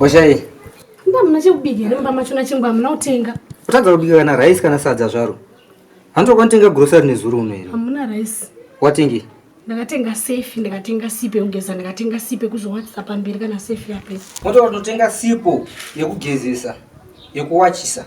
oshai mba muna chekubika here mumba macho nachimbo hamuna kutenga kutadza kubika kana rice kana sadza zvaro hanzi kwanotenga grocery nezuro uno here hamuna rice watengi ndakatenga safe ndakatenga sipo yekugeza ndakatenga sipo yekuzowachisa pamberi kana safe yape motototenga sipo yekugezesa yekuwachisa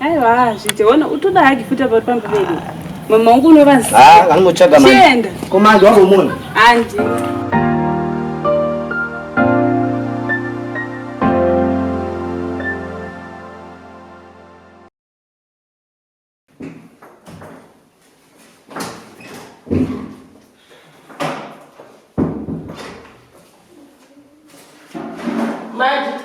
Aiwa hazvite ona utoda hagi futi apa pamba vedu. Mama wangu unovaziva. Ah, anomutsvaga mama. Chienda. Komando wako munhu. Andi. Maji.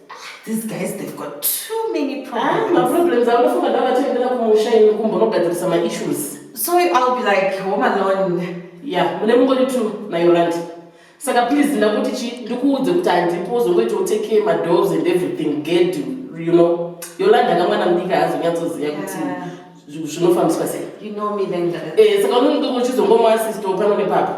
These guys they've got too many problems. Ah, problems are not from that time that we shine in kumbo not that some issues. So I'll be like home alone. Yeah, mune mungori two na Yolandi. Saka please ndakuti chi ndikuudze kuti andipo uzongoita utake care my dogs and everything get you, you know. Yolandi akamwana mudika hazonyatsoziva kuti zvinofambiswa sei. You know me then. Eh, saka unenge uchizongomwa sister pano nepapa.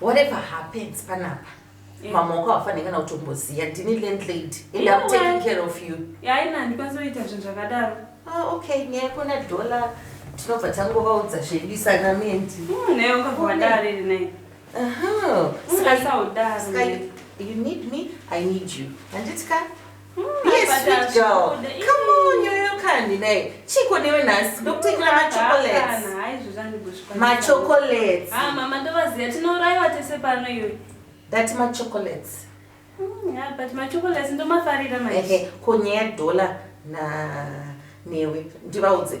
whatever happens panapa eh. mama wako hafanhe kana kutomboziva ndini landlady and am taking care of you yaina handikwanisa kuita zvinhu zvakadaro ah, okay nyaya kona dollar tinobva tangovaudza zvedu isanamendi hmm, naye ungavadare naye saka you need me i need you handiti ka handinai chiko newe nhasi ndokutekera machocolates ah, mama ndovaziva tinourayiwa tese pano iyoyi that machocolates hmm, but machocolates ndomafarira ko nyaya yedhola newe ndivaudze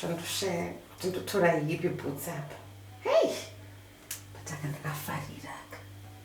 zvandoshe kuti ndotora yipi bhutsi apa hei pataka ndakafarira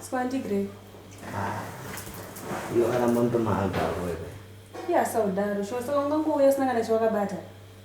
Spandigre. Ah, iyo kana mondo maagaro ere. Iya saudaro, shosaka ungangouya usina kana chawakabata.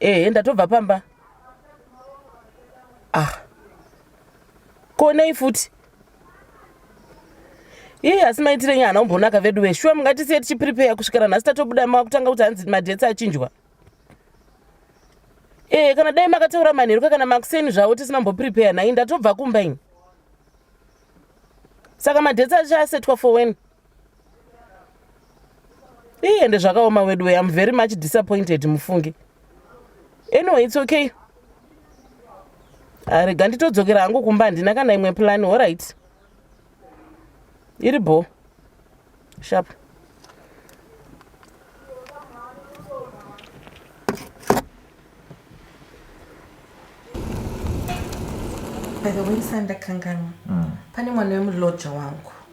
ehe ndatobva pamba ah konei futi iye asi maitire nyana umbonaka vedu ve shuwa mungatisiye tichiprepare kusvikira nhasi tatobuda makutanga kuti hanzi madhets achinjwa ee kana dai makataura manheruka kana makuseni zvavo tisimamboprepare nhai ndatobva kumba ini saka madhets achasetwa for wen iye ende zvakaoma wedu way am very much disappointed mufunge anyway its okay arega ah, nditodzokera hangu kumba handina kana imwe plani horit iri bho shap by the way sandakanganwa mm. pane mwana wemulodja wangu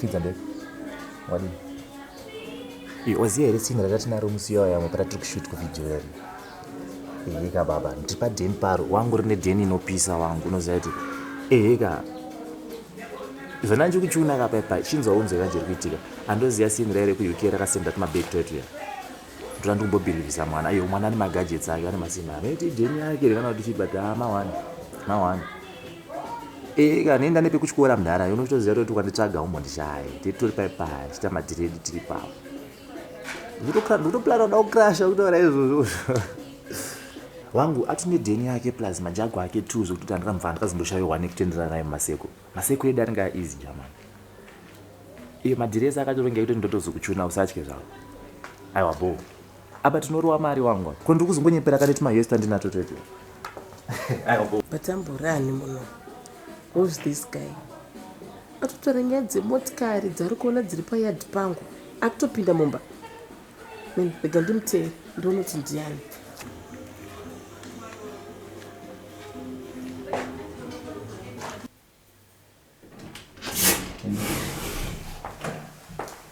fidza ndeko wadii oziva here tsinga ratatinaro musi iyoyo yamwe patatiri kushoot kuvideo yari eheka baba ndipa deni paro wangu rine deni inopisa wangu unoziva kuti eheka zvona ndiri kuchiona ka paipa chinzwa unzwa yanje iri kuitika andoziva singu raire kuuk rakasenda tumabeki twetu ya ndona ndi kumbobhilivisa mwana iyo mwana ane magajets ake ane masimba anoiti deni yake rekana kuti chipa kuti haa mawani mawani eheka anoenda nepekutyora mdhara unotoziva toti kwanditsvaga umbondishaye titori paipa tichita madiredi tiri pavo ndikutoplan uda kucrasha kutaura izvozvo wangu ati nedheni yake plus majago ake two zvekuti andika mvana ndikazomboshayohwa nekutenderana naye maseko maseko edu anenge aeasy german iyo madiresi akatorongea kuti ndotozokuchuna usatye zvavo aiwa bo apa tinorowa mari wangu ko ndiri kuzongonyepera kaneti mahesta ndinatotete aiwa bo batamburani muno Who's this guy? Atotora nyaya dzemotikari dzaari kuona dziri payard pangu akutopinda mumba. Mani, rega ndimutevere ndione kuti ndiani.